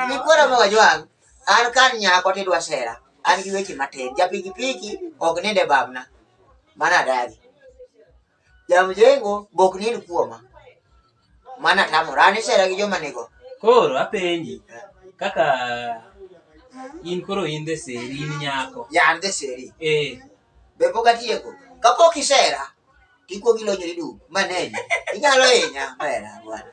Nikwara ma wajwang' an kar nyako tidwa sera an gi weche matin japikipiki ok ninde babna mana adagi Jamjengo bok nil kuoma. Mana tamora an isera gi joma nigo. Koro apenji kaka in koro in the seri in nyako. Ya an the seri. Eh. Be pok atieko. Kapok isera tikuogi lonyo ni dum maneni. Inyalo hinya mera bwana.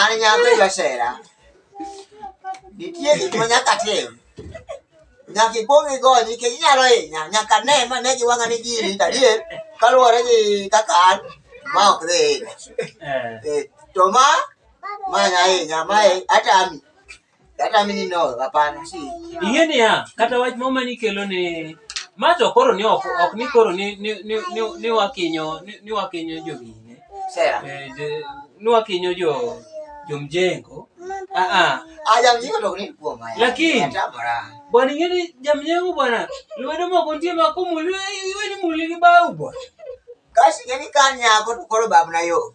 An nyako josera. Nitie gik ma nyaka tim. Nyaka ikwong igony nikech inyalo hinya. Nyaka ne ma ne gi wang'a ni gini adier kaluwore gi kaka an ma ok dhi hinya. Eh, To ma ma nya hinya ma atami. Kata mimi no, hapana si. Ing'e niya, kata wach moro mane ikelo ni ma to koro ni ok, ok ni koro ni ni ni, ni, ni wakinyo ni, ni wakinyo jogine. Sera. Eh, je- ni wakinyo jo jomjengo. Ah ah. Aja mjiko to ni kwa maya. Lakini- Hata mara. Bwana ing'e ni jamjengo bwana. Lwedo moko nitie ma kumuli iwe ni muli gi bau bwana. Kasi yani kanya ko to koro babu na yo.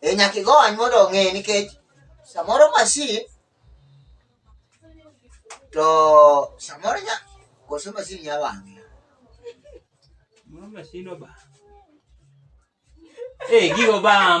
E nyaka igony mondo ong'e nikech samoro masin to samoro nya koso masin nya wang'e. Moro masin obam. Eh, gigo bam.